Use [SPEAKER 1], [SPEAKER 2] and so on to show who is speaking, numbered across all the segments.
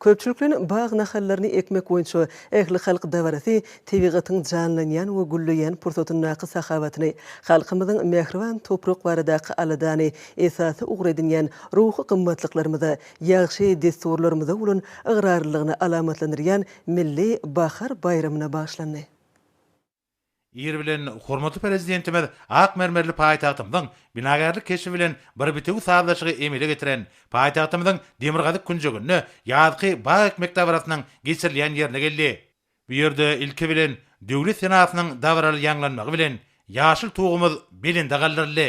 [SPEAKER 1] Köpçülikleýin bag nahallaryny ekmek boýunça ählihalk dabarasy tebigatyň janlanýan we gülleýän pursatyndaky sahawatyny, halkymyzyň mähriban toprak baradaky aladany esasy ugur edinýän ruhy gymmatlyklarymyza, ýagşy dessurlarymyza bolan ygrarlylygyny alamatlandyrýan milli bahar baýramyna bagyşlandy.
[SPEAKER 2] Ir bilen hormatly Prezidentimiz ak mermerli paýtagtymyzyň binagärlik keşbi bilen bir bitewi sazlaşygy emele getiren paýtagtymyzyň demirgazyk künjeginde ýazky bag ekmek dabarasynyň geçirilýän ýerine geldi. Bu ýerde ilki bilen Döwlet senasynyň dabaraly ýaňlanmagy bilen ýaşyl Tugumyz belende galdyryldy.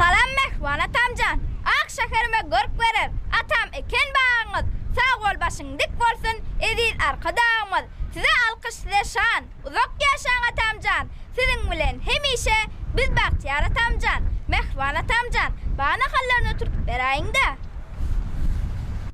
[SPEAKER 3] Salam Mähriban atamjan! Ak şäherime görk berer atam eken bagyňyz! Sag bol başyň dik bolsun eziz Arkadagymyz! Size alkyş size şan! Uzak ýaşaň atamjan! Siziň bilen hemişe biz bagtyýar atamjan! Mähriban atamjan! Bana hallaryny turtup beräýiňdä!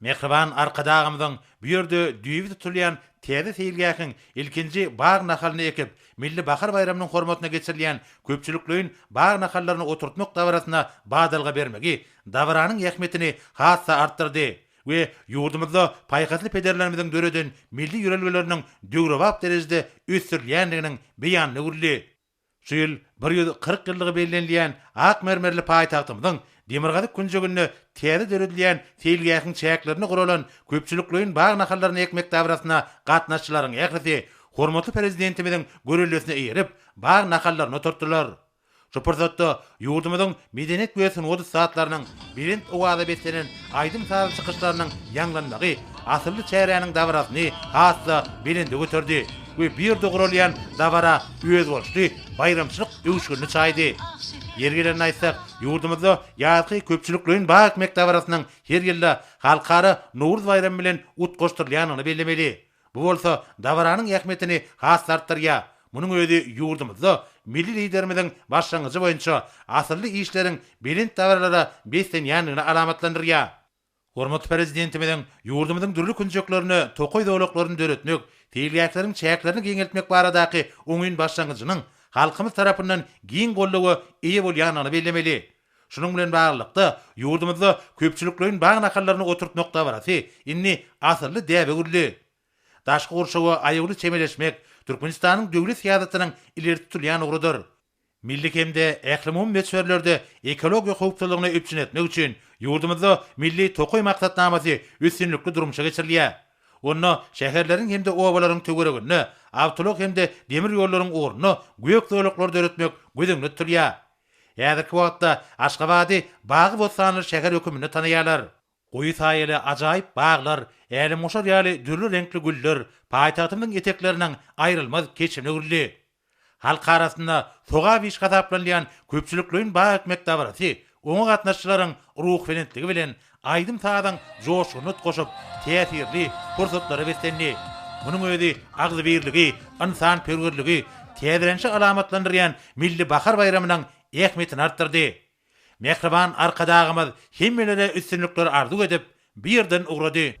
[SPEAKER 2] Mähriban Arkadagymyzyň bu ýerde düýbi tutulýan täze seýilgähiň ilkinji bag nahalyny ekip, Milli bahar baýramynyň hormatyna geçirilýän köpçülikleýin bag nahallaryny oturtmak dabarasyna badalga bermegi dabaranyň ähmiýetini has-da artdyrdy we ýurdumyzda paýhasly pederlerimiziň döreden milli ýörelgeleriniň döwrebap derejede ösdürilýändiginiň beýanyny gurdy. Şu ýyl bir ýüz kyrk ýyllygy bellenilýän ak mermerli paýtagtymyzyň demirgazyk künjeginde täze döredilýän seýilgähiň çäklerinde guralan köpçülikleýin bag nahallaryny ekmek dabarasyna gatnaşyjylaryň ählisi hormatly Prezidentimiziň göreldesine eýerip, bag nahallaryny oturtdylar. Şu pursatda Ýurdumyzyň medeniýet we sungat ussatlarynyň belent owaza beslenen aýdym-sazly çykyşlarynyň ýaňlanmagy asylly çäräniň dabarasyny has-da belende göterdi we bu ýerde guralýan dabara özboluşly baýramçylyk öwüşginini çaýdy. Ýeri gelende aýtsak, ýurdumyzda ýazky köpçülikleýin bag ekmek dabarasynyň her ýylda Halkara Nowruz baýramy bilen utgaşdyrylýandygyny bellemeli. Bu bolsa dabaranyň ähmiýetini has-da artdyrýar. Munuň özi ýurdumyzda milli Liderimiziň başlangyjy boýunça asylly işleriň belent dabaralara beslenýändigini alamatlandyrýar. Hormatly Prezidentimiziň ýurdumyzyň dürli künjeklerine tokaý zolaklaryny döretmek, seýilgähleriň çäklerini giňeltmek baradaky oňyn başlangyjynyň halkymyz tarapyndan giň goldawa eýe bolýandygyny bellemeli. Şunuň bilen baglylykda, ýurdumyzda köpçülikleýin bag nahallaryny oturtmak dabarasy indi asylly däbe gürledi. Daşky gurşawa aýawly çemeleşmek Türkmenistanyň döwlet syýasatynyň ileri tutulýan ugrudyr. Milli hem-de ählumumy möçberlerde ekologiýa howpsuzlygyny üpjün etmek üçin ýurdumyzda Milli tokaý maksatnamasy üstünlikli durmuşa geçirilýär. Onda şäherleriň hem-de obalaryň töwereginde awtoulag hem-de demir ýollaryň ugrunda gök zolaklar döretmek göz öňünde tutulýar. Häzirki wagtda Aşgabady bagy-bossanly şäher höküminde tanaýarlar. Goýy saýaly ajaýyp baglar, älemgoşar ýaly dürli reňkli güller paýtagtymyzyň etekleriniň aýrylmaz keçemi öwrüldi. Halk arasynda sogap iş hasaplanylýan köpçülikleýin bag ekmek dabarasy oňa gatnaşyjylaryň ruhbelentligi bilen Aýdym-sazyň joşguny utgaşyp, täsirli pursatlara beslendi. Munuň özi agzybirligi, ynsanperwerligi, täzelenişi alamatlandyrýan Milli bahar baýramynyň ähmiýetini artdyrdy. Mähriban Arkadagymyz hemmelere üstünlikler arzuw edip, bu ýerden ugrady.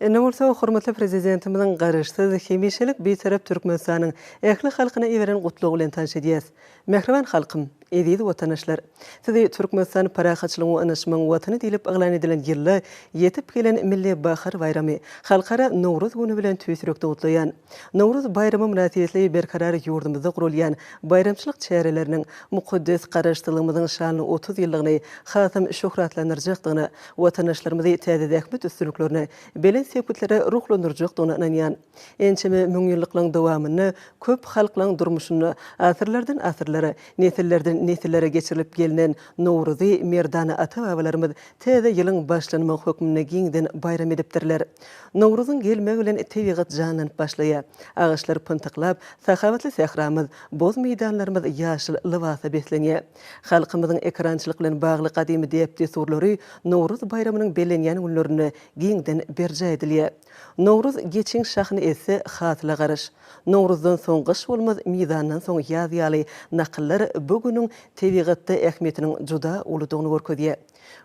[SPEAKER 1] Indi bolsa hormatly Prezidentimiziň Garaşsyz, hemişelik Bitarap Türkmenistanyň ähli halkyna iberen Gutlagy bilen tanyş edýäs. Mähriban halkym, eziz watanaşlar! Sizi Türkmenistan parahatçylygyň we ynaşmagyň Watany diýlip yglan edilen ýylda ýetip gelen Milli bahar baýramy, Halkara Nowruz güni bilen tüýs ýürekden gutlaýan. Nowruz baýramy mynasybetli Berkarar ýurdumyzda guralýan baýramçylyk çäreleriniň mukaddes Garaşsyzlygymyzyň şanly otuz ýyllygyny hasam şöhratlandyrjakdygyna, watandaşlarymyzy täze zähmet üstünliklerine, belent sepgitlere ruhlandyrjakdygyna ynanýan. Ençeme müňýyllyklaryň dowamynda köp halklaryň durmuşynda asyrlardan-asyrlara, nesillerden-nesillere geçirilip gelnen Nowruzy merdana ata-babalarymyz täze ýylyň başlanmagy hökmünde giňden baýram edipdirler. Nowruzyň gelmegi bilen tebigat janlanyp başlaýar. Agaçlar pyntyklap, sahawatly sähramyz, boz meýdanlarymyz ýaşyl lybasa beslenýär. Halkymyzyň ekerançylyk bilen bagly gadymy däp-dessurlary Nowruz baýramynyň bellenýän günlerinde giňden berjaý edilýär. Nowruz geçiň şahyny ezse, hasyla garyş. Nowruzdan soň gyş bolmaz, mizandan soň ýaz ýaly nakyllar bu günüň tebigatda ähmiýetiniň juda uludygyny görkezýär.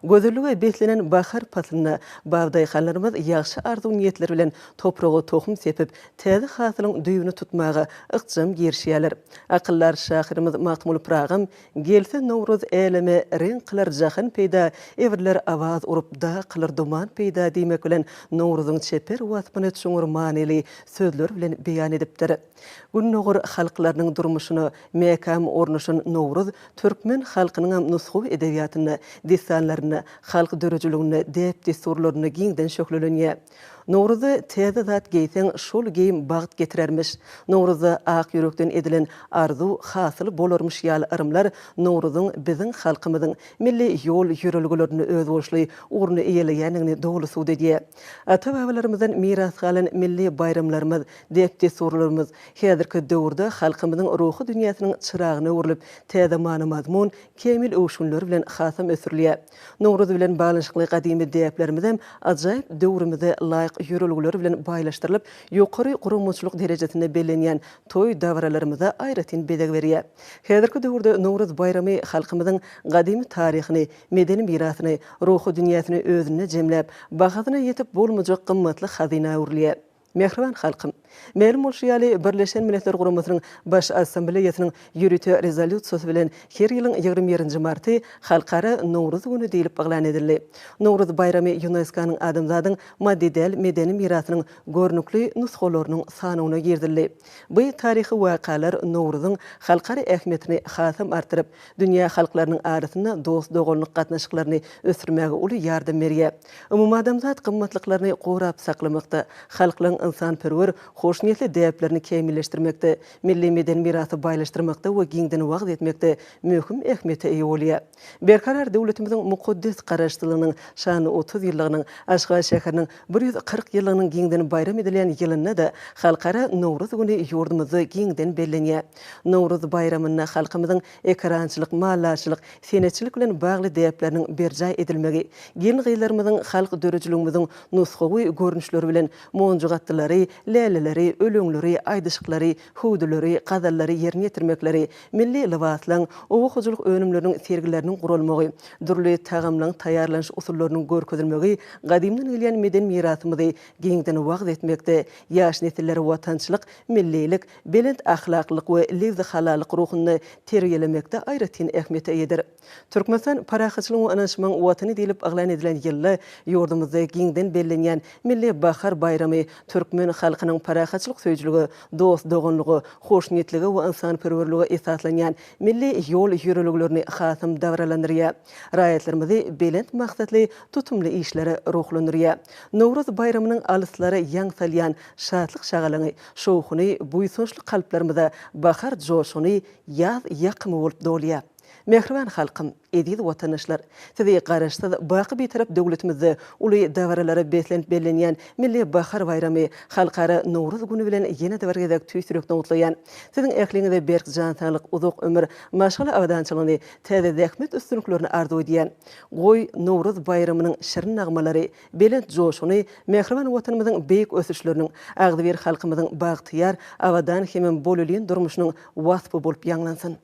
[SPEAKER 1] Gözellige beslenen bahar paslynda bagdaýhanlarymyz ýagşy arzuw-niýetler bilen topraga tohum sepip, täze hasylyň düýbüni tutmaga ykjam girişýärler. Akyldar şahyrymyz Magtymguly Pyragyam, Gelse Nowruz äleme reňk kylar jahan peýda, Ebrler awaz urup, dag kylar duman peýda diýmek bilen Nowruzyň çeper waspyny çuňňur manyly sözler bilen beýan edipdir. Gündogar halklarynyň durmuşyna mäkäm ornaşan Nowruz türkmen halkynyňam nusgawy edebiýatynda, dessanlarynda, halk döredijiliginde, däp-dessurlarynda giňden şöhlelenýär. Nowruzda täze zat geýseň, şol geýim bagt getirermiş, Nowruzda ak ýürekden edilen arzuw hasyl bolarmyş ýaly yrymlar Nowruzyň biziň halkymyzyň milli ýol-ýörelgelerinde özboluşly orny eýeleýändigini doly subut edýär. Ata-babalarymyzdan miras galan milli baýramlarymyz Däp-dessurlarymyz häzirki döwürde halkymyzyň ruhy dünýäsiniň çyragyna öwrülip, täze many-mazmun, kämil öwüşginler bilen hasam ösdürilýär. Nowruz bilen baglanyşykly gadymy däplerimizem ajaýyp döwrümize laýyk ýörelgeler bilen baýlaşdyrylyp, ýokary guramaçylyk derejesinde bellenýän toý dabaralarymyza aýratyn bezeg berýär. Häzirki döwürde Nowruz baýramy halkymyzyň gadymy taryhyny, medeni mirasyny, ruhy dünýäsini özünde jemläp, bahasyna ýetip bolmajak gymmatly hazyna öwrülýär. Mähriban halkym! Mälim bolşy ýaly, Birleşen Milletler Guramasynyň Baş Assambleýasynyň ýörite rezolýusiýasy bilen her ýylyň ýigrimi birinji marty Halkara Nowruz güni diýlip yglan edildi. Nowruz baýramy ÝUNESKO-nyň Adamzadyň maddy däl medeni mirasynyň görnükli nusgalarynyň sanawyna girizildi. Bu taryhy wakalar Nowruzyň halkara ähmiýetini hasam artdyryp, dünýä halklarynyň arasynda dost-doganlyk gatnaşyklaryny ösdürmäge uly ýardam berýär. Umumadamzat gymmatlyklaryny gorap saklamakda, halklaryň ynsanperwer, hoşniýetli däplerini kämilleşdirmekde, milli medeni mirasy baýlaşdyrmakda we giňden wagyz etmekde möhüm ähmiýete eýe bolýar. Berkarar döwletimiziň mukaddes Garaşsyzlygynyň şanly otuz ýyllygynyň, Aşgabat şäheriniň bir ýüz kyrk ýyllygynyň giňden baýram edilýän ýylynda-da Halkara Nowruz güni ýurdumyzda giňden bellenýär. Nowruz baýramynda halkymyzyň ekerançylyk, maldarçylyk, senetçilik bilen bagly däpleriniň berjaý edilmegi, gelin-gyzlarymyzyň halk döredijiligimiziň nusgawy görnüşleri bilen monjugatlylary, läleleri, öleňleri, aýdyşyklary, hüwdüleri, gazallary ýerine ýetirmekleri, milli lybaslaryň, oba-hojalyk önümleriniň sergileriniň guralmagy, dürli tagamlaryň taýýarlanyş usullarynyň görkezilmegi gadymdan gelýän medeni mirasymyzy giňden wagyz etmekde, ýaş nesillere watançylyk, millilik, belent ahlaklylyk we lebzihalallyk ruhunda terbiýelemekde aýratyn ähmiýete eýedir. Türkmenistan parahatçylygyň we ynanyşmagyň Watany diýlip yglan edilen ýylda ýurdumyzda giňden bellenýän Milli bahar baýramy türkmen halkynyň parahatçylyk söýüjilige, dost-doganlyga, hoşniýetlige we ynsanperwerlige esaslanýan milli ýol-ýörelgelerini hasam dabaralandyrýar, raýatlarymyzy belent maksatly tutumly işlere ruhlandyrýar. Nowruz baýramynyň alyslara ýaň salýan şatlyk-şagalaňy, şowhuny buýsançly kalplarymyza bahar joşguny, ýaz ýakymy bolup dolýar. Mähriban halkym, eziz watandaşlar! Sizi Garaşsyz, baky Bitarap döwletimizde uly dabaralara beslenip bellenýän Milli bahar baýramy, Halkara Nowruz güni bilen ýene-de bir gezek tüýs ýürekden gutlaýan. Siziň ähliňize berk jan saglyk, uzak ömür, maşgala abadançylygyny, täze zähmet üstünliklerini arzuw edýän. Goý, Nowruz baýramynyň şirin nagmalary, belent joşguny mähriban Watanymyzyň beýik ösüşleriniň, agzybir halkymyzyň bagtyýar, abadan hemem bol-elin durmuşynyň waspy bolup ýaňlansyn!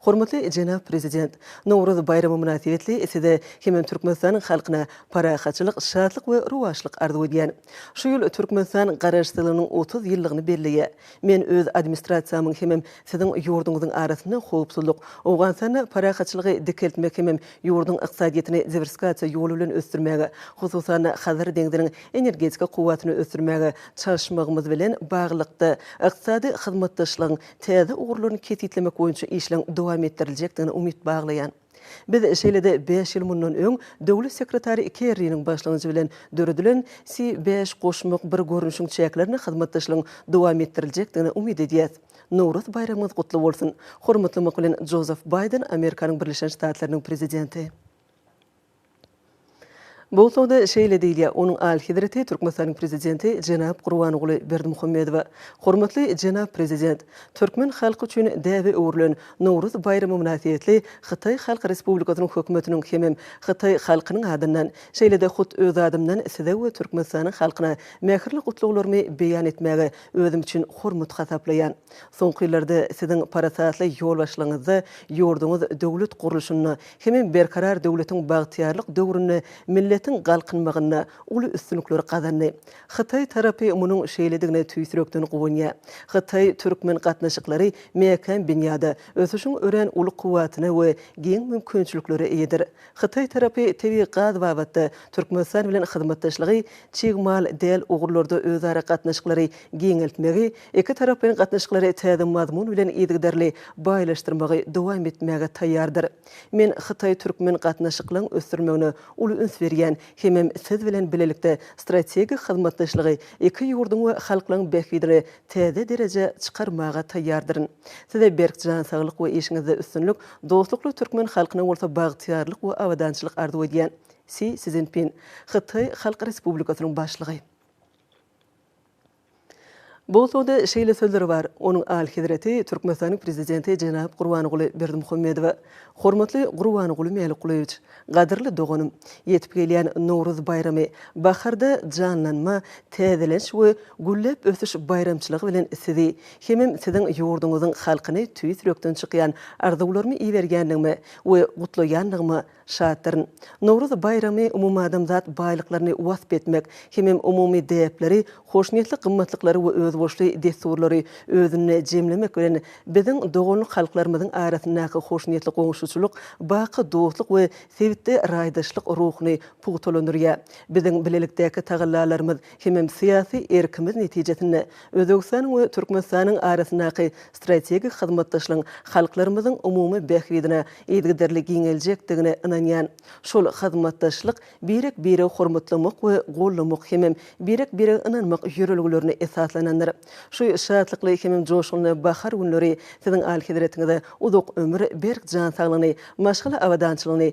[SPEAKER 1] Hormatly jenap Prezident! Nowruz baýramy mynasybetli Size hemem Türkmenistanyň halkyna parahatçylyk, şatlyk we rowaçlyk arzuw edýän. Şu ýyl Türkmenistan Garaşsyzlygynyň otuz ýyllygyny belleýär. Men öz administrasiýamyň hemem Siziň ýurduňyzyň arasynda howpsuzlyk, Owganystanda parahatçylygy dikeltmek hemem ýurduň ykdysadyýetini diwersikasiýa ýoly bilen ösdürmäge, hususan-da Hazar deňziniň energetika kuwwatyny ösdürmäge çalyşmagymyz bilen baglylykda, ykdysady hyzmatdaşlygyň täze ugurlaryny kesgitlemek boýunça işleň dowam etdiriljekdigine umyt baglaýan. Biz şeýle-de bäş ýyl mundan öň Döwlet sekretary Kerriniň başlangyjy bilen döredilen Si bäş goşmak bir görnüşiň çäklerinde hyzmatdaşlygyň dowam etdiriljekdigine umyt edýäs. Nowruz baýramyňyz gutly bolsun! Hormatlamak bilen Jozef Baýden, Amerikanyň Birleşen Ştatlarynyň Prezidenti. Bu sowda şeýle diýilýär, Onuň Alyhezreti Türkmenistanyň Prezidenti jenap Gurbanguly Berdimuhamedowa, Hormatly jenap Prezident! Türkmen halky üçin däbe öwrülen Nowruz baýramy mynasybetli Hytaý Halk Respublikasynyň Hökümetiniň hemem hytaý halkynyň adyndan, şeýle-de hut öz adymdan Size we Türkmenistanyň halkyna mähirli gutlaglarymy beýan etmäge özüm üçin hormat hasaplaýan. Soňky ýyllarda Siziň parasatly ýolbaşçylygyňyzda ýurduňyz döwlet gurluşynda, hemem Berkarar döwletiň bagtyýarlyk döwründe milletiň galkynmagynda uly üstünlikleri gazandy. Hytaý tarapy munuň şeýledigine tüýsürekden guwanýar. Hytaý-türkmen gatnaşyklary mäkäm binýada, ösüşiň örän uly kuwwatyna we giň mümkinçiliklere eýedir. Hytaý tarapy tebigy gaz babatda Türkmenistan bilen hyzmatdaşlygy çig mal däl ugurlarda özara gatnaşyklary giňeltmegi, ikitaraplaýyn gatnaşyklary täze mazmun bilen yzygiderli baýlaşdyrmagy dowam etmäge taýýardyr. Men hytaý-türkmen gatnaşyklaryň ösdürilmegine uly üns berýän, hemem siz bilen bilelikde strategik hyzmatdaşlygy iki ýurduň we halklaryň bähbidine täze derejä çykarmaga taýýardyryn. Size berk jan saglyk we işiňizde üstünlik, dostlukly türkmen halkyna bolsa bagtyýarlyk we abadançylyk arzuw edýän. Si Szinpin, Hytaý Halk Respublikasynyň Başlygy. Bu usulda şeýle sözler bar, Onuň Alyhezreti Türkmenistanyň Prezidenti jenap Gurbanguly Berdimuhamedowa, Hormatly Gurbanguly Mälikgulyýewiç, gadyrly doganym, ýetip gelýän Nowruz baýramy, baharda janlanma, täzelenç we gülläp ösüş baýramçylygy bilen sizi hemem siziň ýurduňyzyň halkyny tüýs ýürekden çykýan arzuwlarymy iberýändigime we gutlaýandygyma Şatdyryň. Nowruz baýramy umumadamzat baýlyklaryny wasp etmek hemem umumy däpleri, hoşniýetli gymmatlyklary we özboluşly dessurlary özünde jemlemek bilen, biziň doganlyk halklarymyzyň arasyndaky hoşniýetli goňşuçylyk, baky dostluk we sebitde raýdaşlyk ruhuny pugtalandyrýar. Biziň bilelikdäki tagallalarymyz hemem syýasy erkimiz netijesinde Özbegistanyň we Türkmenistanyň arasyndaky strategik hyzmatdaşlygyň halklarymyzyň umumy bähbidine yzygiderli giňeljekdigine ynanýan. Şol hyzmatdaşlyk birek-biregi hormatlamak we goldamak hemem birek-birege ynanmak ýörelgelerine esaslanandyr. Şu şatlykly hemem joşgunly bahar günleri Siziň Alyhezretiňize uzak ömür, berk jan saglygyny, maşgala abadançylygyny,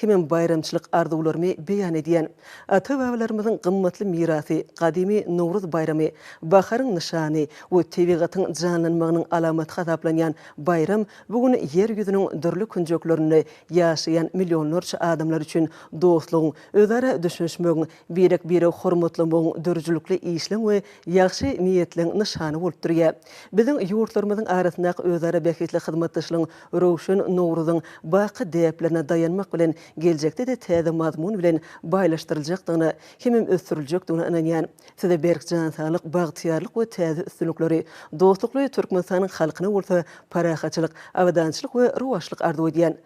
[SPEAKER 1] Hemem baýramçylyk arzuwlarymy beýan edýän. Ata-babalarymyzyň gymmatly mirasy, gadymy Nowruz baýramy, baharyň nyşany we tebigatyň janlanmagynyň alamaty hasaplanýan baýram bu gün Ýer ýüzüniň dürli künjeklerinde ýaşaýan millionlarça adamlar üçin dostlugyň, özara düşünişmegiň, Birek-biregi hormatlamagyň, dörüjilikli işleň we ýagşy niýetleň nyşany bolup durýar. Biziň ýurtlarymyzyň arasyndaky özara bähbitli hyzmatdaşlygyň röwşen Nowruzyň baky däplerine daýanmak bilen, geljekde-de täze mazmun bilen baýlaşdyryljakdygyna hemem ösdüriljekdigine ynanýan. Size berk jan saglyk, bagtyýarlyk we täze üstünlikleri, dostlukly Türkmenistanyň halkyna bolsa parahatçylyk, abadançylyk we rowaçlyk arzuw edýän.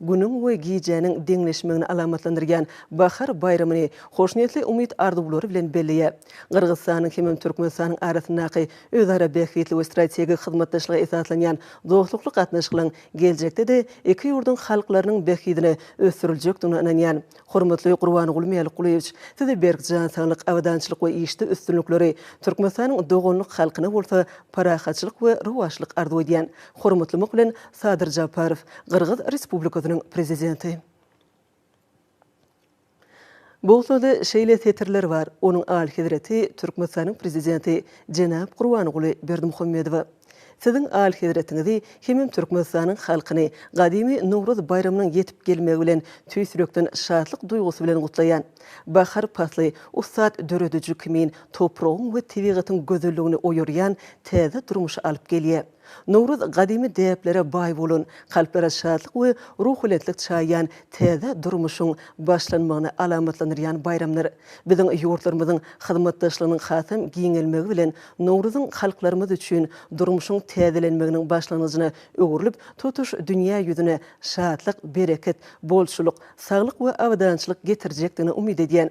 [SPEAKER 1] Günüň we gijäniň deňleşmegini alamatlandyrýan Bahar baýramyny hoşniýetli umyt-arzuwlary bilen belleýär. Gyrgyzystanyň hemem Türkmenistanyň arasyndaky özara bähbitli we strategik hyzmatdaşlyga esaslanýan dostlukly gatnaşyklaryň geljekde-de iki ýurduň halklarynyň bähbidine ösdüriljekdigine ynanýan. Hormatly Gurbanguly Mälikgulyýewiç, Size berk jan saglyk, abadançylyk we işde üstünlikleri, Türkmenistanyň doganlyk halkyna bolsa parahatçylyk we rowaçlyk arzuw edýän. Hormatlamak bilen, Sadyr Japarow, Gyrgyz Respublikasynyň Prezidenti. Bu sözde şeýle setirler bar, Onuň Alyhezreti Türkmenistanyň Prezidenti jenap Gurbanguly Berdimuhamedowa, Siziň Alyhezretiňizi hemem Türkmenistanyň halkyny gadymy Nowruz baýramynyň ýetip gelmegi bilen tüýs ýürekden şatlyk duýgusy bilen gutlaýan. Bahar pasly ussat dörediji kimin topragyň we tebigatyň gözelligini oýarýan täze durmuşy alyp gelýär. Nowruz gadymy däplere baý bolan, kalplara şatlyk we ruhubelentlik çaýýan, täze durmuşyň başlanmagyny alamatlandyrýan baýramdyr. Biziň ýurtlarymyzyň hyzmatdaşlygynyň hasam giňelmegi bilen Nowruzyň halklarymyz üçin durmuşyň täzelenmeginiň başlangyjyna öwrülip, tutuş dünýä ýüzüne şatlyk, bereket, bolçulyk, saglyk we abadançylyk getirjekdigine umyt edýän.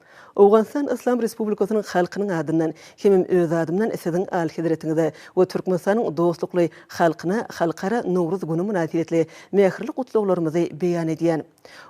[SPEAKER 1] Owganystan Yslam Respublikasynyň halkynyň adyndan hemem öz adymdan Siziň Alyhezretiňize we Türkmenistanyň dostlukly halkyna Halkara Nowruz güni mynasybetli mähirli gutlaglarymyzy beýan edýän.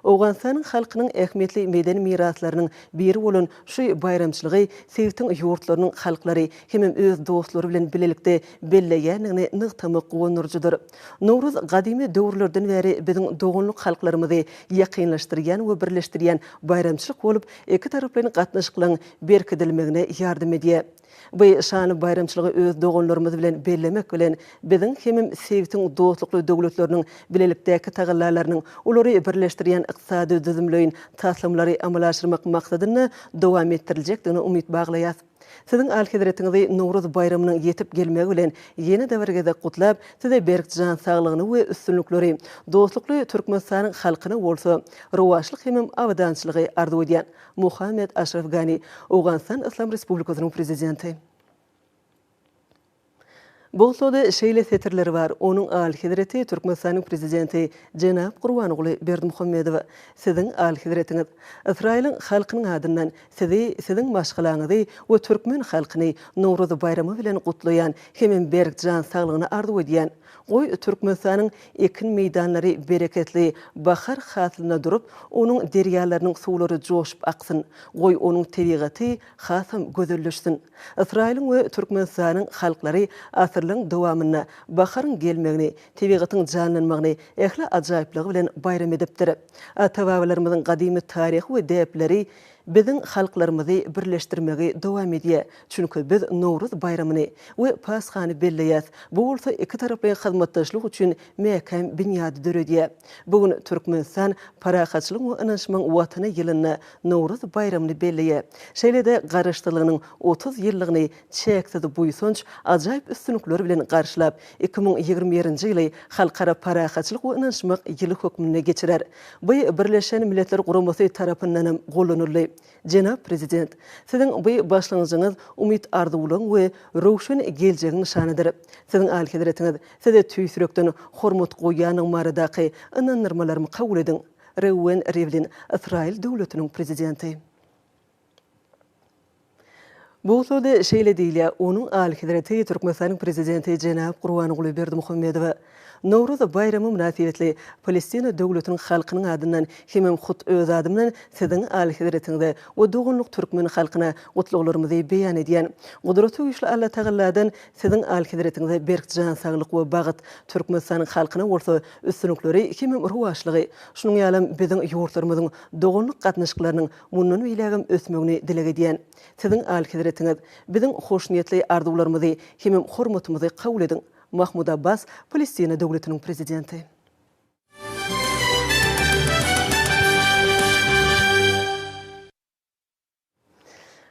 [SPEAKER 1] Owganystanyň halkynyň ähmiýetli medeni miraslarynyň biri bolan şu baýramçylygy sebitiň ýurtlarynyň halklary hemem öz dostlary bilen bilelikde belleýändigini nygtamak guwandyryjydyr. Nowruz gadymy döwürlerden bäri biziň doganlyk halklarymyzy ýakynlaşdyrýan we birleşdirýän baýramçylyk bolup, ikitaraplaýyn gatnaşyklaryň berkidilmegine ýardam edýär. Bu şanly baýramçylygy öz doganlarymyz bilen bellemek bilen, biziň hemem sebitiň dostlukly döwletleriniň bilelikdäki tagallalarynyň, olary birleşdirýän ykdysady düzümleýin taslamlary amala aşyrmak maksadynda dowam etdiriljekdigine umyt baglaýarys. Siziň Alyhezretiňizi Nowruz baýramynyň ýetip gelmegi bilen ýene-de bir gezek gutlap, size berk jan saglygyny we üstünlikleri, dostlukly Türkmenistanyň halkyna bolsa rowaçlyk hemem abadançylygy arzuw edýän. Mohamed Aşraf Gani, Owganystan Yslam Respublikasynyň Prezidenti. Bolsa-da, şeýle setirler bar, Onuň Alyhezreti Türkmenistanyň Prezidenti jenap Gurbanguly Berdimuhamedowa, Siziň Alyhezretiňiz, Ysraýylyň halkynyň adyndan Sizi, Siziň maşgalaňyzy we türkmen halkyny Nowruz baýramy bilen gutlaýan hemem berk jan saglygyny arzuw edýän. Goý, Türkmenistanyň ekin meýdanlary bereketli bahar hasylyna durup, onuň derýalarynyň suwlary joşup aksyn. Goý, onuň tebigaty hasam gözelleşsin. Ysraýylyň we Türkmenistanyň halklary asyrlaryň dowamynda baharyň gelmegini, tebigatyň janlanmagyny ähli ajaýyplygy bilen baýram edipdir. Ata-babalarymyzyň gadymy taryhy we däpleri biziň halklarymyzy birleşdirmegi dowam edýär. Çünki biz Nowruz baýramyny we Pasgany belleýäs, bu bolsa ikitaraplaýyn hyzmatdaşlyk üçin mäkäm binýady döredýär. Bu gün Türkmenistan Parahatçylygyň we ynanyşmagyň Watany ýylynda Nowruz baýramyny belleýär. Şeýle-de Garaşsyzlygynyň otuz ýyllygyny çäksiz buýsanç, ajaýyp üstünlikler bilen garşylap, iki müň ýigrimi birinji ýyly Halkara parahatçylyk we ynanyşmak ýyly hökmünde geçirer. Bu Birleşen Milletler Guramasy tarapyndanam gollanyldy. Jenap Prezident, Siziň bu başlangyjyňyz umyt-arzuwlaryň we röwşen geljegiň nyşanydyr. Siziň Alyhezretiňiz, Size tüýs ýürekden hormat goýýandygym baradaky ynandyrmalarymy kabul ediň. Reuwen Rivlin, Ysraýyl döwletiniň prezidenti. Bu usuly şeýle diýilýär, Onuň Alyhezreti Türkmenistanyň Prezidenti jenap Gurbanguly Berdimuhamedowa Nowruz baýramy mynasybetli Palestina döwletiniň halkynyň adyndan hemem hut öz adymdan Siziň Alyhezretiňize we doganlyk türkmen halkyna gutlaglarymyzy beýan edýän. Gudratygüýçli Allataganladan Siziň Alyhezretiňize berk jan saglyk we bagt, Türkmenistanyň halkyna bolsa üstünlikleri hem rowaçlygy, şunuň ýalam biziň ýurtlarymyzyň doganlyk gatnaşyklarynyň mundan beýlägem ösmegini dileg edýän. Siziň Alyhezretiňiz, biziň hoşniýetli arzuwlarymyzy hem hormatymyzy kabul ediň. Mahmud Abbas, Palestina Döwletiniň Prezidenti.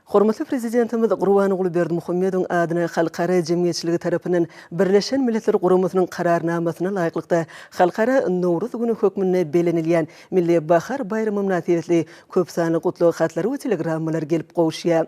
[SPEAKER 1] Hormatly Prezidentimiz Gurbanguly Berdimuhamedowyň adyna halkara jemgyýetçiligi tarapyndan Birleşen Milletler Guramasynyň Kararnamasyna laýyklykda Halkara Nowruz güni hökmünde bellenilýän Milli bahar baýramy mynasybetli köp sanly gutlag hatlary we telegrammalar gelip gowuşýar.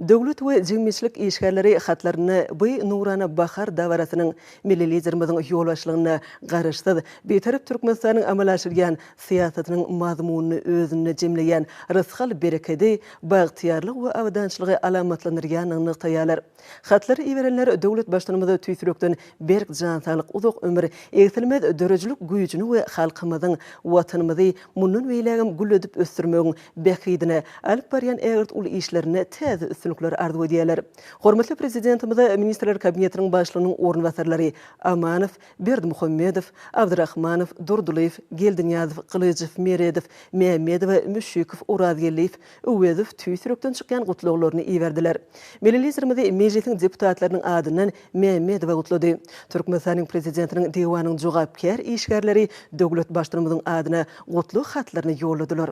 [SPEAKER 1] Döwlet we jemgyýetçilik işgärleri hatlarynda bu nurana bahar dabarasynyň milli Liderimiziň ýolbaşçylygynda Garaşsyz, Bitarap Türkmenistanyň amala aşyrýan syýasatynyň mazmunyny özünde jemleýän rysgal-berekedi, bagtyýarlygy we abadançylygy alamatlandyrýandygyny nygtaýarlar. Hatlary iberenler döwlet Baştutanymyza tüýs ýürekden berk jan saglyk, uzak ömür, egsilmez döredijilik güýjüni we halkymyzyň, Watanymyzy mundan beýlägem gülledip ösdürmegiň bähbidine alyp barýan ägirt uly işlerinde täze üstünlikler arzuw edýärler. Hormatly Prezidentimize Ministrler Kabinetiniň Başlygynyň orunbasarlary Amanow, Berdimuhamedow, Abdyrahmanow, Durdylyýew, Geldiniýazow, Gylyjow, Meredow, Mämmedowa, Müşşikow, Orazgeldiýew, Öwezow tüýs ýürekden çykýan gutlaglaryny iberdiler. Milli Liderimizi Mejlisiň deputatlarynyň adyndan Mämmedowa gutlady. Türkmenistanyň Prezidentiniň Diwanyň jogapkär işgärleri döwlet Baştutumymyzyň adyna gutlag hatlaryny ýolladylar.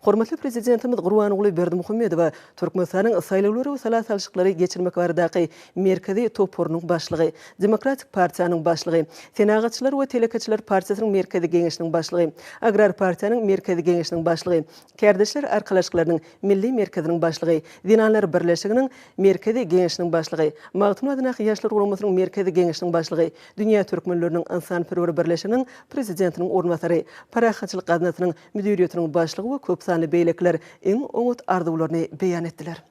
[SPEAKER 1] Hormatly Prezidentimiz Gurbanguly Berdimuhamedowa Türkmenistanyň Saýlawlary we sala salşyklary geçirmek baradaky Merkezi toparynyň başlygy, Demokratik partiýanyň başlygy, Senagatçylar we telekeçiler partiýasynyň Merkezi geňeşiniň başlygy, Agrar partiýanyň Merkezi geňeşiniň başlygy, Kärdeşler arkalaşyklarynyň Milli merkeziniň başlygy, Zenanlar birleşiginiň Merkezi geňeşiniň başlygy, Magtym adyndaky Ýaşlar guramasynyň Merkezi geňeşiniň başlygy, Dünýä türkmenleriniň ynsanperwer birleşiginiň prezidentiniň orunbasary, Parahatçylyk gaznasynyň müdiriýetiniň başlygy we köpsanly beýlekiler iň oňat arzuwlaryny beýan etdiler.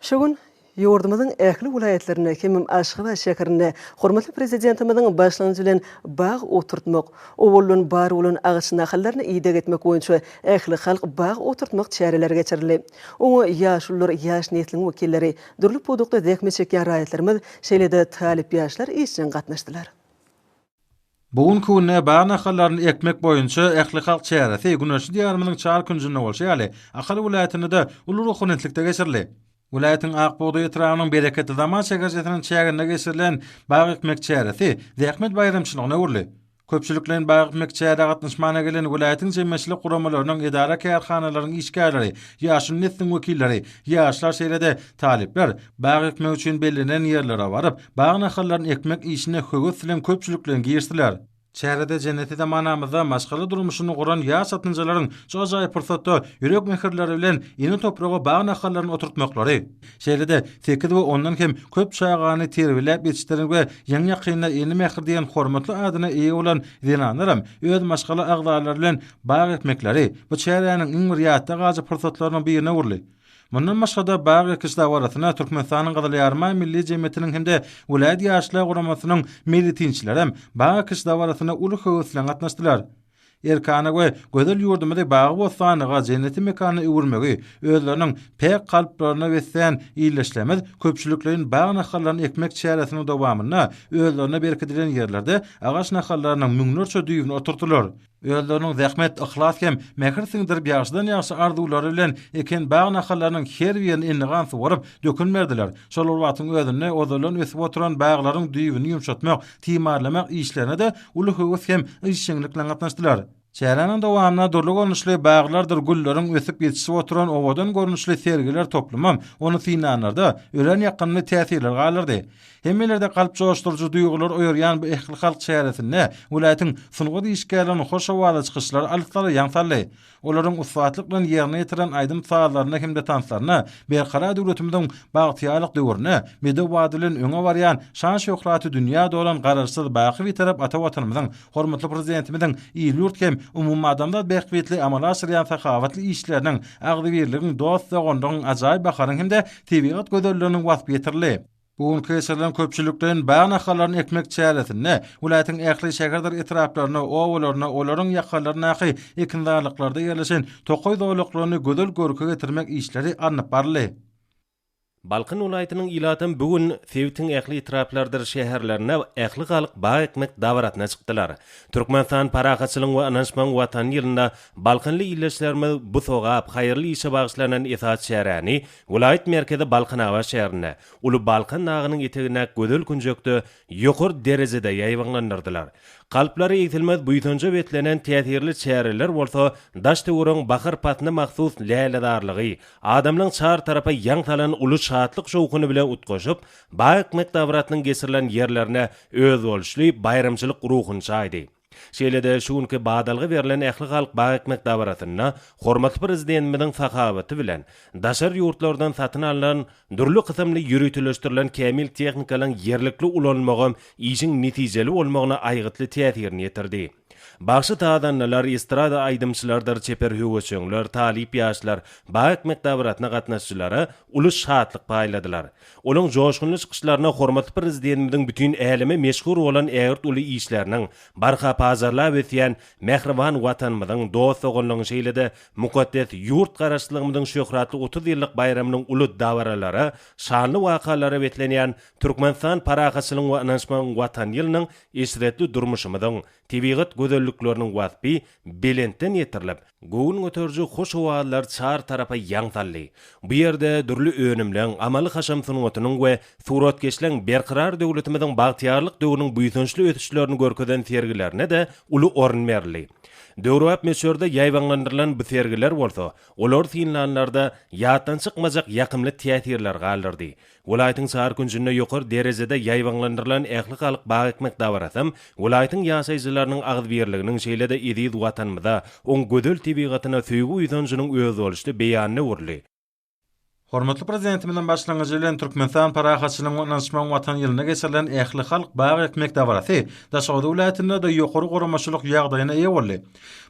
[SPEAKER 1] Şu gün ýurdumyzyň ähli welaýatlarynda hemem Aşgabat şäherinde hormatly Prezidentimiziň başlangyjy bilen bag oturtmak, owaldan bar bolan agaç nahallaryny ideg etmek boýunça ählihalk bag oturtmak çäreleri geçirildi. Oňa ýaşulular, ýaş nesliň wekilleri, Dürli pudakda zähmet çekýän raýatlarymyz, şeýle-de talyp ýaşlar işjeň gatnaşdylar.
[SPEAKER 4] Bu günki günde bag nahallaryny ekmek boýunça ählihalk çäresi Güneşli Diýarymyzyň çar künjünde bolşy ýaly, Ahal welaýatynda-da uly ruhubelentlikde geçirildi. Welaýatyň Ak bugdaý etrabynyň Bereketli zaman şäherçesiniň çäginde geçirilen bag ekmek çäresi zähmet baýramçylygyna öwrüldi. Köpçülikleýin bagykmek çärä gatnaşmana gelen welaýatyň jemgyýetçilik guramalarynyň, edara-kärhanalaryň işgärleri, ýaşyl nesliň wekilleri, ýaşlar şeýle-de talyplar bag ekmek üçin bellenen ýerlere baryp, bag nahallaryny ekmek işine höwes bilen köpçülikleýin girişdiler. Çärede jenneti zamanamyzda maşgala durmuşyny guran ýaş satynjylaryň şu ajaýyp pursatda ýürek mähirleri bilen ene topraga bag nahallaryny oturtmaklary, Şeýle-de, sekiz we ondan hem köp çagany terbiýeläp ýetişdiren we ýaňy-ýakynda Ene mähri diýen hormatly adyna eýe bolan zenanlaram öz maşgala agzalary bilen bag ekmekleri bu çäräniň iň bir ýatda galjak pursatlarynyň birine öwrüldi. Mundan başga-da, bag ekiş dabarasyna Türkmenistanyň Gyzylýarym-A milli jemgyýetiniň hem-de welaýat ýaşlar guramasynyň meýletinçilerem bag ekiş dabarasyna uly höwes bilen gatnaşdylar. erkana we gözel ýurdumyzy bagy-bossanlyga, jenneti mekana öwürmegi özleriniň päk kalplaryna besleýän ildeşlerimiz köpçülikleýin bag nahallaryny ekmek çäresiniň dowamynda özlerine berkidilen ýerlerde agaç nahallarynyň müňlerçe düýbüni oturtdylar. Özleriniň zähmet, yhlas hem mähir siňdirip ýagşydan-ýagşy arzuwlary bilen eken bag nahallarynyň her birini indi gan suwaryp, dökün berdiler. Şol bir wagtyň özünde ozalan ösüp oturan baglaryň düýbüni ýumşatmak, timarlamak işlerine-de uly höwes hem işjeňlik bilen gatnaşdylar. Çäräniň dowamynda dürli görnüşli baglardyr gülleriň ösüp ýetişip oturan owadan görnüşli sergiler toplumam ony synlanlarda örän ýakymly täsirler galdyrdy. Hemmelerde kalp joşduryjy duýgular oýarýan bu ählihalk çäresinde welaýatyň sungat işgärleriniň hoş owaza çykyşlary alyslara ýaň saldy. olaryň ussatlyk bilen ýerine ýetiren aýdym-sazlaryna hem-de tanslaryna Berkarar döwletimiziň bagtyýarlyk döwrüne, bedew bady bilen öňe barýan, şan-şöhraty dünýä dolan Garaşsyz, baky Bitarap ata Watanymyzyň, hormatly Prezidentimiziň il-ýurt hem umumadamzat bähbitli amala aşyrýan sahawatly işleriniň, agzybirligiň, dost-doganlygyň, ajaýyp baharyň hem-de tebigat gözelliginiň waspy ýetirildi. Bu günki geçirilen köpçülikleýin bag nahallary ekmek çäresinde welaýatyň ähli şäherdir etraplarynda, obalarynda, olaryň ýakalaryndaky ekinzarlyklarda ýerleşen tokaý zolaklaryny gözel görke getirmek işleri alnyp baryldy.
[SPEAKER 5] Balkan welaýatynyň ilatam bu gün sebitiň ähli etraplardyr şäherlerinde ähli halyk bag ekmek dabarasyna çykdylar. Türkmenistan parahatçylygyň we ynanyşmagyň Watany ýylynda balkanly ildeşlerimiz bu sogap, haýyrly işe bagyşlanan esasy çäräni Welaýat merkezi Balkanabat şäherinde, Uly Balkan dagynyň etegindäki gözel künjekde ýokary derejede ýaýbaňlandyrdylar. Kalplary egsilmez buýsanja beslenen täsirli çäreler bolsa daş-töweregiň bahar paslyna mahsus lälezarlygy, adamlaryň çar tarapa ýaň salan uly şatlyk-şowhuny bilen utgaşyp, Baý Akmet dabarasynyň geçirilen ýerlerine özboluşly baýramçylyk ruhuny çaýdy. Şeýle-de, şu günki badalga berlen ählihalk bag ekmek dabarasynda hormatly Prezidentimiziň sahawaty bilen daşary ýurtlardan satyn alnan dürli kysymly ýöriteleşdirilen kämil tehnikalaryň ýerlikli ulanylmagy işiň netijeli bolmagyna aýgytly täsirini ýetirdi. Bagşy sazandalar, estrada aýdymçylarydyr çeper höwesjeňler, talyp ýaşlar bag ekmek dabarasyna gatnaşyjylara uly şatlyk paýladylar. Onuň joşgunly çykyşlaryna hormatly Prezidentimiziň bütin äleme meşhur bolan ägirt uly işleriniň, barha pajarlap ösýän mähriban Watanymyzyň, dost-doganlygyň şeýle-de mukaddes ýurt Garaşsyzlygymyzyň şöhratly otuz ýyllyk baýramynyň uly dabaralara, şanly wakalara beslenýän Türkmenistan parahatçylygyň we ynanyşmagyň Watany ýylynyň eşretli durmuşymyzyň, tebigat gözellikleriniň waspy, Belentden ýetirilip, göwün göteriji hoş owaazlar çar tarapa ýaň saldy. Bu ýerde dürli önümleň, amaly-haşam sungatynyň we suratkeşleň Berkarar döwletimiziň bagtyýarlyk döwrüniň buýsançly ösüşlerini görkezen sergilerine-de uly orun berildi. Döwrebap möçberde ýaýbaňlandyrylan bu sergiler bolsa, olar synlanlarda ýatdan çykmajak ýakymly täsirleri galdyrdy. Welaýatyň çar künjünde ýokary derejede ýaýbaňlandyrylan ählihalk bag ekmek dabarasy welaýatyň ýaşaýjylarynyň agzybirliginiň, şeýle-de eziz Watanymyza, oň gözel tebigatyna söýgi-buýsanjynyň özboluşly beýanyna öwrüldi. Hormatly
[SPEAKER 4] Prezidentimiziň başlangyjy bilen Türkmenistan parahatçylygyň we ynanyşmagyň Watany ýylynda geçirilen ählihalk bag ekmek dabarasy Daşoguz welaýatynda-da ýokary guramaçylyk ýagdaýyna eýe boldy.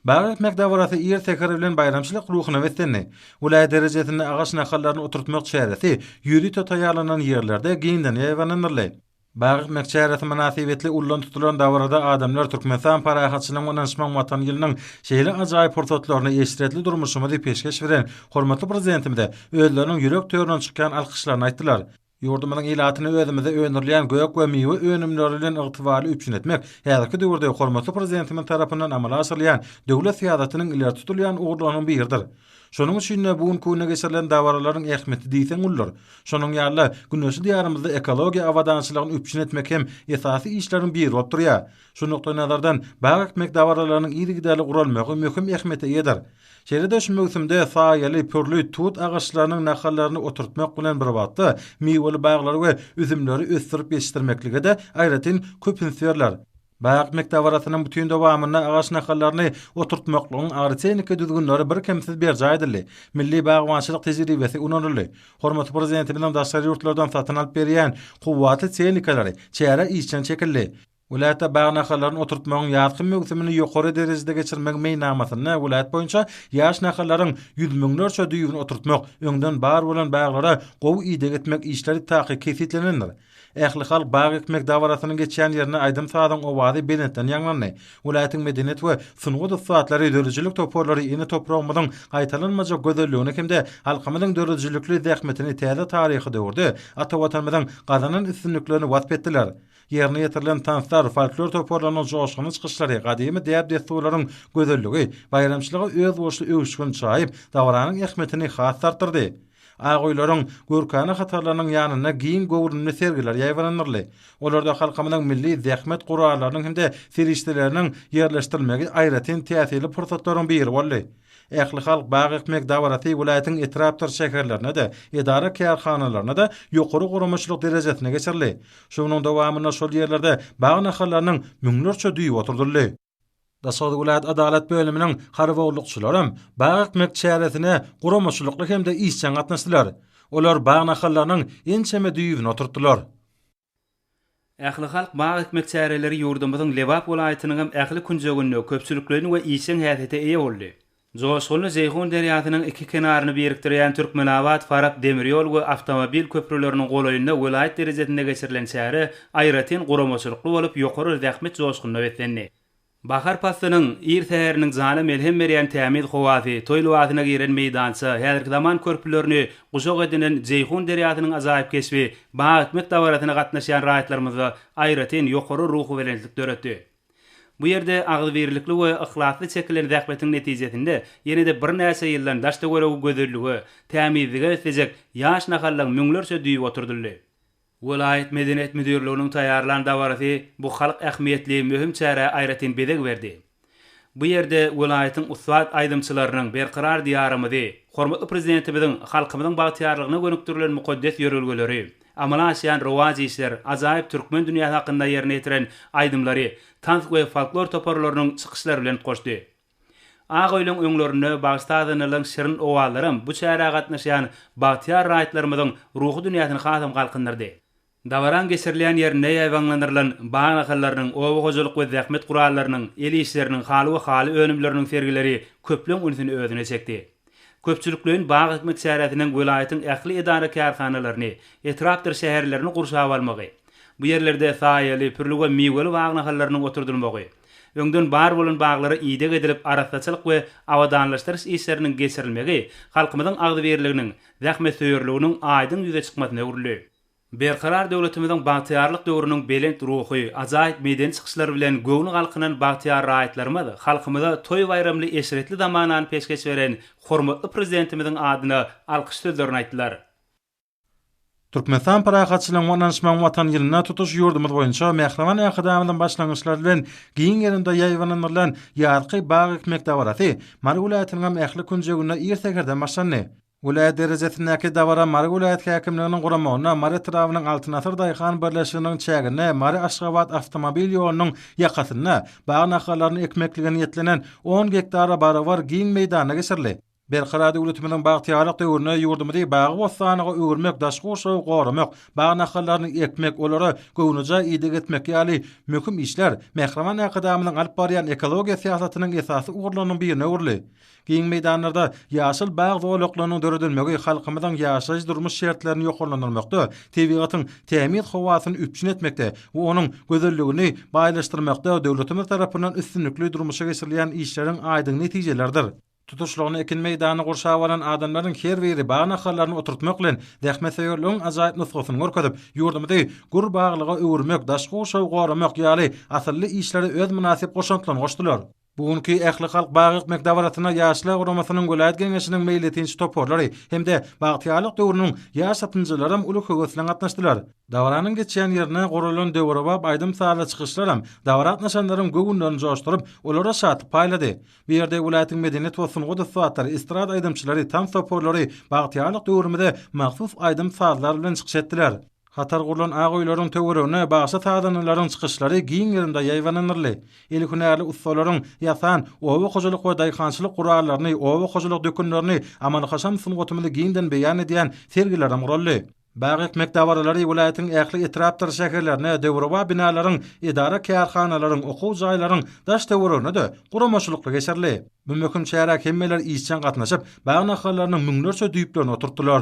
[SPEAKER 4] Bag ekmek dabarasy ir säher bilen baýramçylyk ruhuna beslendi. Welaýat derejesinde agaç nahallaryny oturtmak çäresi ýörite taýýarlanan ýerlerde giňden ýaýbaňlanyldy. Bag ekmek çäresi mynasybetli ulladan tutulan dabarada adamlar Türkmenistan parahatçylygyň we ynanyşmagyň Watany ýylynyň şeýle ajaýyp pursatlaryny eşretli durmuşymyzy peşgeş beren hormatly Prezidentimize özleriniň ýürek töründen çykýan alkyşlaryny aýtdylar. Ýurdumyzyň ilatyny özümizde öndürilýän gök we miwe önümleri bilen ygtybarly üpjün etmek häzirki döwürde hormatly Prezidentimiz tarapyndan amala aşyrylýan döwlet syýasatynyň ileri tutulýan ugurlarynyň biridir. Şonuň üçin-de bu gün kününe geçirilen dabaralaryň ähmiýeti diýseň uludyr. Şonuň ýaly, Güneşli Diýarymyzda ekologiýa abadançylygyny üpjün etmek hem esasy işleriň biri bolup durýar. Şu nukdaýnazardan, bag ekmek dabaralarynyň yzygiderli guralmagy möhüm ähmiýete eýedir. Şeýle-de şu möwsümde saýaly, pürli tut agaçlarynyň nahallaryny oturtmak bilen bir wagtda, miweli baglary we üzümleri ösdürip ýetişdirmeklige-de aýratyn köp üns berler. Bag mekdebarasynyň bütin dowamynda agaç nahallaryny oturtmaklygyň agrotehniki düzgünleri birkemsiz berjaý edildi, milli bagbançylyk tejribesi ulanyldy. Hormatly Prezidentimiziň daşary ýurtlardan satyn alyp berýän kuwwatly tehnikalary çäre işjeň çekildi. Welaýatda bag nahallary oturtmagyň ýazky möwsümini ýokary derejede geçirmegiň meýilnamasynda welaýat boýunça ýaş nahallaryň ýüz müňlerçe düýbüni oturtmak, öňden bar bolan baglara gowy ideg etmek işleri takyk kesgitlenendir. Ählihalk bag ekmek dabarasynyň geçýän ýerinde aýdym-sazyň owazy belentden ýaňlandy. Welaýatyň medeniýet we sungat ussatlary, döredijilik toparlary ene topragymyzyň gaýtalanmajak gözelligini hem-de halkymyzyň döredijilikli zähmetini täze taryhy döwürde ata Watanymyzyň gazanan üstünliklerini wasp etdiler. Ýerine ýetirilen tanslar, folklor toparlarynyň joşgunly çykyşlary gadymy däp-dessurlaryň gözelligi baýramçylyga özboluşly öwüşgin çaýyp, dabaranyň ähmiýetini has-da artdyrdy. Ak öýleriň görkana hatarlarynyň ýanynda giň göwrümli sergiler ýaýbalandyryldy. Olarda halkymyzyň milli zähmet gurallarynyň hem-de serişdeleriniň ýerleşdirilmegi aýratyn täsirli pursatlaryň biri boldy. Ählihalk bag ekmek dabarasy welaýatyň etrapdyr şäherlerinde-de, edara-kärhanalaryna-da ýokary guramaçylyk derejesinde geçirildi. Şunuň dowamynda şol ýerlerde bag nahallarynyň müňlerçe düýbi oturdyldy. Daşoguz welaýat Adalat bölüminiň harby-gullukçylaram bag ekmek çäresine guramaçylykly hem-de işjeň gatnaşdylar. Olar bag nahallarynyň ençeme düýbüni oturtdylar.
[SPEAKER 6] Ählihalk bag ekmek çäreleri ýurdumyzyň Lebap welaýatynyň hem ähli künjeginde köpçülikleýin we işjeň häsiýete eýe boldy. Joşgunly Jeýhun derýasynyň iki kenaryny birikdirýän Türkmenabat, Farap demir ýol we awtomobil köprüleriniň golaýynda welaýat derejesinde geçirilen çäre aýratyn guramaçylykly bolup, ýokary zähmet joşgunyna beslendi. Bahar paslynyň ir säheriniň jana melhem berýän tämiz howasy, toý lybasyna giren meýdança, häzirki zaman körpülerini guşak edinen Jeýhun derýasynyň ajaýyp keşbi bag ekmek dabarasyna gatnaşýan raýatlarymyzda aýratyn ýokary ruhubelentlik döretdi. Bu ýerde agzybirlikli we yhlasly çekilen zähmetiň netijesinde ýene-de birnäçe ýyldan daş-töweregi gözellige, tämizlige beslejek ýaş nahallaň müňlerçe düýbi oturdyldy. Welaýat medeniýet müdirliginiň taýýarlan dabarasy bu halk ähmiýetli möhüm çärä aýratyn bezeg berdi. Bu ýerde welaýatyň ussat aýdymçylarynyň Berkarar Diýarymyzy, hormatly Prezidentimiziň halkymyzyň bagtyýarlygyna gönükdirilen mukaddes ýörelgeleri, amala aşýan rowaç işler, ajaýyp türkmen dünýäsi hakynda ýerine ýetiren aýdymlary, tans we folklor toparlarynyň çykyşlary belent goşdy. Ak öýlüň öňlerinde bagsazanylan şirin owallaram bu çärä gatnaşýan bagtyýar raýatlarymyzyň ruhy dünýäsini hasam galkyndyrdy. Dabaraň geçirilýän ýerinde ýaýbaňlandyrylan bag nahallarynyň, oba hojalyk we zähmet gurallarynyň, el işleriniň, haly we haly önümleriniň sergileri köpleň ünsüni özüne çekdi. Köpçülikleýin bag ekmek çäresiniň welaýatyň ähli edara-kärhanalaryny, etrapdyr şäherlerini gurşap almagy, bu ýerlerde saýaly, pürli we miweli bag nahallarynyň oturdylmagy, Öňden bar bolan baglara ideg edilip arassaçylyk we abadanlaşdyryş işleriniň geçirilmegi halkymyzyň agzybirliginiň, zähmetsöýerliginiň aýdyň ýüze çykmasyna öwrüldi. Berkarar döwletimiziň bagtyýarlyk döwrüniň belent ruhy, ajaýyp medeni çykyşlary bilen göwni galkynan bagtyýar raýatlarymyz halkymyza toý-baýramly eşretli zamanany peşgeş beren hormatly Prezidentimiziň adyna alkyş sözlerini aýtdylar. Türkmenistan
[SPEAKER 4] parahatçylygyň we ynanyşmagyň Watany ýylynda tutuş ýurdumyz boýunça mähriban Arkadagymyzyň başlangyçlary bilen giň gerimde ýaýbaňlandyrylan Ýarpy bag ekmek dabarasy Mary welaýatynyň hem ähli künjeginde ir säherden başlandy. Welaýat derejesindäki dabara Mary welaýat häkimliginiň guramagynda Mary etrabynyň Altyn asyr daýhan birleşiginiň çäginde Mary-Aşgabat awtomobil ýolunyň ýakasynda bag nahallaryny ekmeklige niýetlenen on gektara barabar giň meýdanda geçirildi. Berkarar döwletimiziň bagtyýarlyk döwründe ýurdumyzy bagy-bossanlyga öwürmek, daşky gurşawy goramak, bag nahallaryny ekmek, olary göwnejaý ideg etmek ýaly möhüm işler Mähriban Arkadagymyzyň alyp barýan ekologiýa syýasatynyň esasy ugurlarynyň birine öwrüldi. Giň meýdanlarda ýaşyl bag zolaklarynyň döredilmegi halkymyzyň ýaşaýyş-durmuş şertlerini ýokarlandyrmakda, tebigatyň tämiz howasyny üpjün etmekde we onuň gözelligini baýlaşdyrmakda döwletimiz tarapyndan üstünlikli durmuşa geçirilýän işleriň aýdyň netijeleridir. Tutuşlygyna ekin meýdanyny gurşap alan adamlaryň her biri bag nahallaryny oturtmak bilen, zähmetsöýerligiň ajaýyp nusgasyny görkezip, ýurdumyzy gür baglyga öwürmek, daşky gurşawy goramak ýaly asylly işlere öz mynasyp goşantlaryny goşdular. Bu günki ählihalk bag ekmek dabarasyna Ýaşlar guramasynyň welaýat geňeşiniň meýletinçi toparlary hem-de Bagtyýarlyk döwrüniň ýaş satynjylaram uly höwes bilen gatnaşdylar. Dabaranyň geçýän ýerine guralan döwrebap aýdym-sazly çykyşlaram dabara gatnaşanlaryň göwünlerini joşduryp, olara şatlyk paýlady. Bu ýerde welaýatyň medeniýet we sungat ussatlary, estrada aýdymçylary, tans toparlary bagtyýarlyk döwrümize mahsus aýdym-sazlar bilen çykyş etdiler. Hatar gurlan ak öýleriň töweregine bagşy sazandalaryň çykyşlary giň gerimde ýaýbaňlanyldy. El hünärli ussalaryň ýasan oba hojalyk we daýhançylyk gurallaryny, oba hojalyk dökünlerini, amaly-haşam sungatymyzy giňden beýan edýän sergilerem guraldy. Bag ekmek dabaralary welaýatyň ähli etrapdyr şäherlerine, döwrebap binalaryň, edara-kärhanalaryň, okuw jaýlaryň daş-töweregine-de guramaçylykly geçirildi. Bu möhüm çärä hemmeler işjeň gatnaşyp, bag nahallarynyň müňlerçe düýplerini oturtdylar.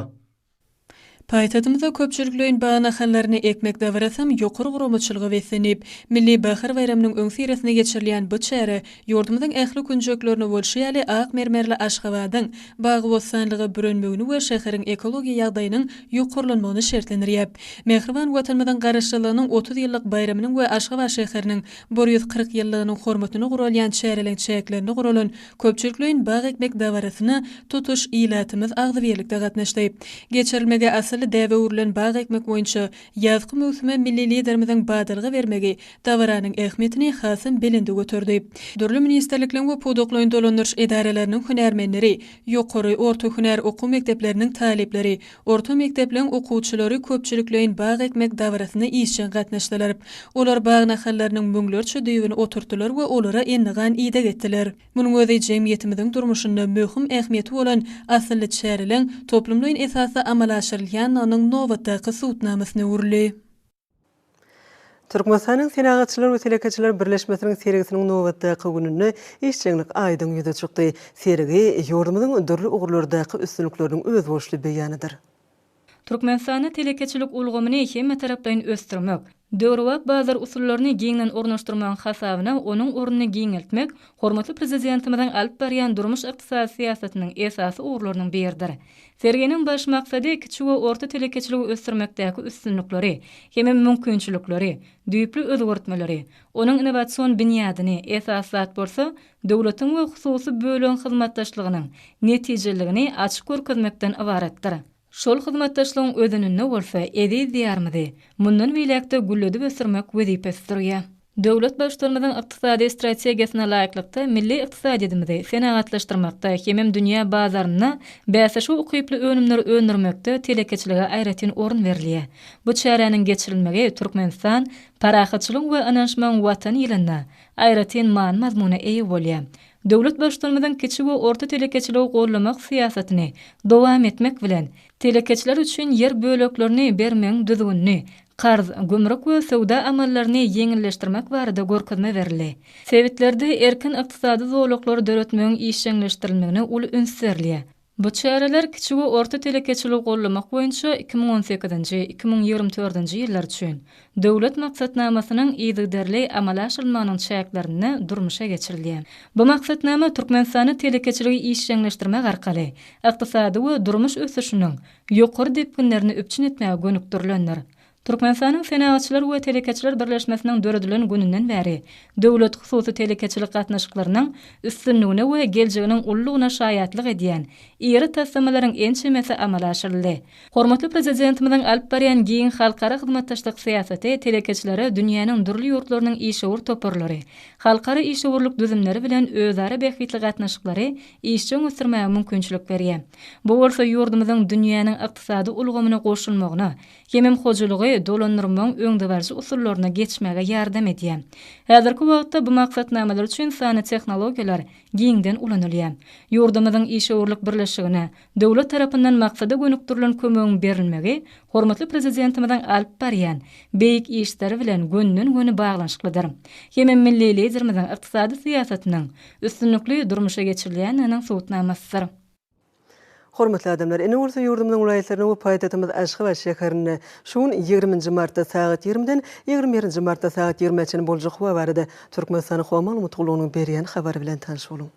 [SPEAKER 7] Paýtagtymyzda köpçülikleýin bag nahallaryny ekmek dabarasy hem ýokary guramaçylyga beslenip, milli bahar baýramynyň öňüsyrasynda geçirilýän bu çäre Ýurdumyzyň ähli künjeklerine bolşy ýaly, ak mermerli Aşgabadyň bagy-bossanlyga bürenmegini we şäheriň ekologiýa ýagdaýynyň ýokarlanmagyny şertlendirýär. Mähriban Watanymyzyň Garaşsyzlygynyň otuz ýyllyk baýramynyň we Aşgabat şäheriniň bir ýüz kyrk ýyllygynyň hormatyna guralýan çäreliň çäklerinde guralan köpçülikleýin bag ekmek dabarasyna tutuş ilatymyz agzybirlikde gatnaşdy. Geçirilmegi asylly däbe öwrülen bag ekmek boýunça ýazky möwsüme milli Liderimiziň badalga bermegi Dabaranyň ähmiýetini hasam belende göterdi. Dürli ministrlikleriň we pudaklaýyn dolandyryş edaralarynyň hünärmenleri, ýokary, orta hünär okuw mekdepleriniň talyplary, orta mekdepleriň okuwçylary köpçülikleýin bag ekmek dabarasyna işjeň gatnaşdylar. Olar bag nahallarynyň müňlerçe düýbüni oturtdylar we olara endigan ideg etdiler. Munuň özi jemgyýetimiziň durmuşynda möhüm ähmiýeti bolan asylly çäreleň toplumlaýyn esasda amala aşyrylýandygynyň nobatdaky subutnamasyna öwrüldi.
[SPEAKER 1] Türkmenistanyň Senagatçylar we telekeçiler birleşmesiniň sergisiniň nobatdaky gününde işjeňlik aýdyň ýüze çykdy. Sergi ýurdumyzyň dürli ugurlardaky üstünlikleriniň özboluşly beýanydyr. Türkmenistanda
[SPEAKER 8] telekeçilik ulgamyny hemmetaraplaýyn ösdürmek, döwrebap bazar usullaryny giňden ornaşdyrmagyň hasabyna onuň ornuny giňeltmek hormatly Prezidentimiziň alyp barýan durmuş-ykdysady syýasatynyň esasy ugurlarynyň biridir. Serginiň baş maksady kiçi we orta telekeçiligi ösdürmekdäki üstünlikleri hemem mümkinçilikleri, düýpli özgertmeleri, onuň innowasion binýadyny, esasy zat bolsa, döwletiň we hususy bölegiň hyzmatdaşlygynyň netijeliligini açyp görkezmekden ybaratdyr. Şol hyzmatdaşlygyň özeninde bolsa eziz Diýarymyzy mundan beýläk-de gülledip ösdürmek wezipesi durýar. Döwlet Baştutanymyzyň ykdysady strategiýasyna laýyklykda, milli ykdysadyýetimizi senagatlaşdyrmakda hemem dünýä bazarynda bäsdeşe ukyply önümleri öndürmekde telekeçilige aýratyn orun berilýär. Bu çäräniň geçirilmegi Türkmenistan, parahatçylygyň we ynanyşmagyň Watany ýylynda aýratyn many-mazmuna eýe bolýar. Döwlet Baştutanymyzyň kiçi we orta telekeçiligi goldamak syýasatyny dowam etmek bilen, telekeçiler üçin ýer böleklerini bermegiň düzgünini Karz, gümrük we söwda amallaryny ýeňilleşdirmek barada görkezme berildi. Sebitlerde erkin ykdysady zolaklary döretmegiň işjeňleşdirilmegine uly üns berilýär. Bu çäreler kiçi we orta telekeçiligi goldamak boýunça iki müň on sekizinji, iki müň ýigrimi dördünji ýyllar üçin Döwlet maksatnamasynyň yzygiderli amala aşyrylmagynyň çäklerinde durmuşa geçirilýär. Bu maksatnama Türkmenistanda telekeçiligi işjeňleşdirmek arkaly ykdysady we durmuş ösüşiniň ýokary depginlerini üpjün etmäge gönükdirilendir. Türkmenistanyň Senagatçylar we telekeçiler birleşmesiniň döredilen gününden bäri döwlet-hususy telekeçilik gatnaşyklarynyň üstünligine we geljeginiň ululygyna şaýatlyk edýän iri taslamalaryň ençemesi amala aşyryldy. Hormatly Prezidentimiziň alyp barýan giň halkara hyzmatdaşlyk syýasaty telekeçilere dünýäniň dürli ýurtlarynyň işewür toparlary, halkara işewürlik düzümleri bilen özara bähbitli gatnaşyklary işjeň ösdürmäge mümkinçilik berýär. Bu bolsa ýurdumyzyň dünýäniň ykdysady ulgamyna goşulmagyna hemem hojalygy dolandyrmagyň öňdebaryjy usullaryna geçmäge ýardam edýär. Häzirki wagtda bu maksatnamalar üçin sany tehnologiýalar giňden ulanylýar. Ýurdumyzyň işewürlik birleşigine, Döwlet tarapyndan maksada gönükdirilen kömegiň berilmegi hormatly Prezidentimiziň alyp barýan beýik işleri bilen gönden-göni baglanyşyklydyr. Hemem milli Liderimiziň ykdysady syýasatynyň üstünlikli durmuşa geçirilýändiginiň subutnamasydyr.
[SPEAKER 1] Hormatly adamlar! Ine bolsa ýurdumyzyň welaýatlaryna we paýtagtymyz Aşgabat şäherine şu gün ýigriminji martda sagat ýigrimiden ýigrimi birinji martda sagat ýigrimä çenli boljak howa barada Türkmenistan howa maglumat gullugynyň berýän habary bilen tanyş boluň.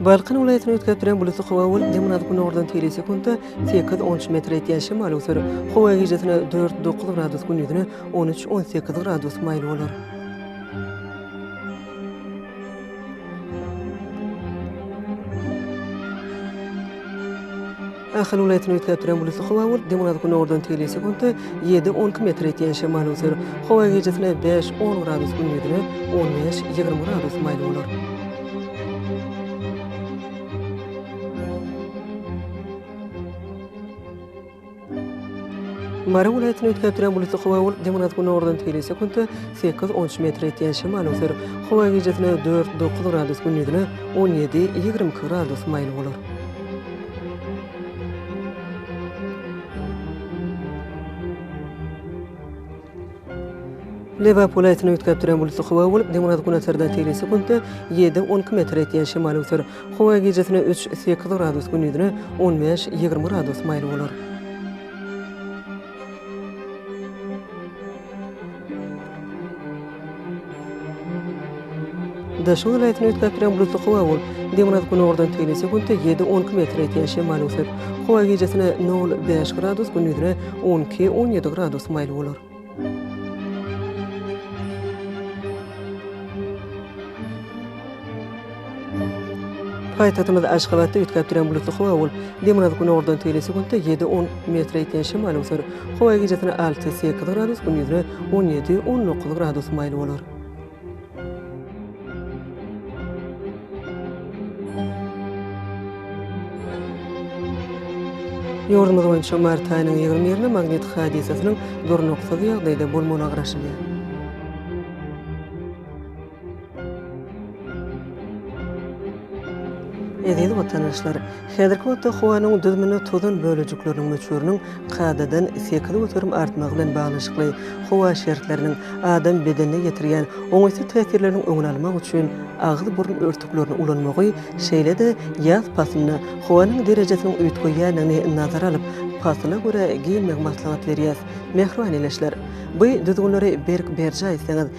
[SPEAKER 1] Balkan welaýatyny üýtgäpdirýän bulutly howa bolup, demirgazyk günordan teýlise sekuntda sekiz-on üç metr ýetýän şemal öwser. Howa gijesi dört-dokuz gradus, gündizi on üç-on sekiz gradus maýyl bolar. Ahal welaýatyny üýtgäp duran bulutly howa bolup, demirgazyk günordan tegelýän sekuntda ýedi, on iki metr ýetýän şemal öwser. Howa gijesine bäş, on gradus, gündizine on bäş, ýigrimi gradus maýyl bolar. Mary welaýatyny üýtgäp duran bulutly howa bolup, demirgazyk günordan tegelýän sekunta sekiz, on üç metr ýetýän şemal öwser. Howa gijasine dört, dokuz gradus, gündizine on ýedi, ýigrimi iki gradus maýyl bolar. Lebap welaýatyny üýtgäp duran bulutly howa bolup, demirgazyk günortadan tigri sekuntda ýedi, on iki metr etýän şemal öwser. Howa gijesine üç, sekiz gradus, gündizine on bäş, ýigrimi gradus maýyl bolar. Daşoguz welaýatyny üýtgäp bilen bulutly howa bolup, demirgaz-gündogardan peýle sekuntda ýedi, on iki metr ýetýän şemal öwser. Howa gijesine nol, bäş gradus, gündizine on iki, on ýedi gradus maýyl bolar. Paýtagtymyz Aşgabatda üýtgäp duran bulutly howa bolup, demirgazyk günordan tegelýän sekuntda ýedi-on metre ýetýän şemale öwser. Howa gijesine alty-sekiz gradus, gündizine on ýedi-on dokuz gradus maýyl bolar. Ýurdumyz boýunça mart aýynyň ýigrimi birinde magnit hadysasynyň durnuksyz ýagdaýda bolmagyna garaşylýar. Eziz watandaşlar! Häzirki wagtda howanyň düzüminde tozan bölejikleriniň möçberiniň kadadan sekiz göterim artmagy bilen baglanyşykly howa şertleriniň adam bedenine ýetirýän oňaýsyz täsirleriniň öňüni almak üçin agyz-burun örtüklerini ulanmagy, şeýle-de ýaz paslynda howanyň derejesiniň üýtgeýändigini nazara alyp, pasla görä geýinmegi maslahat berýäs. Mähriban ildeşler! Bu düzgünleri berk berjaý etseňiz,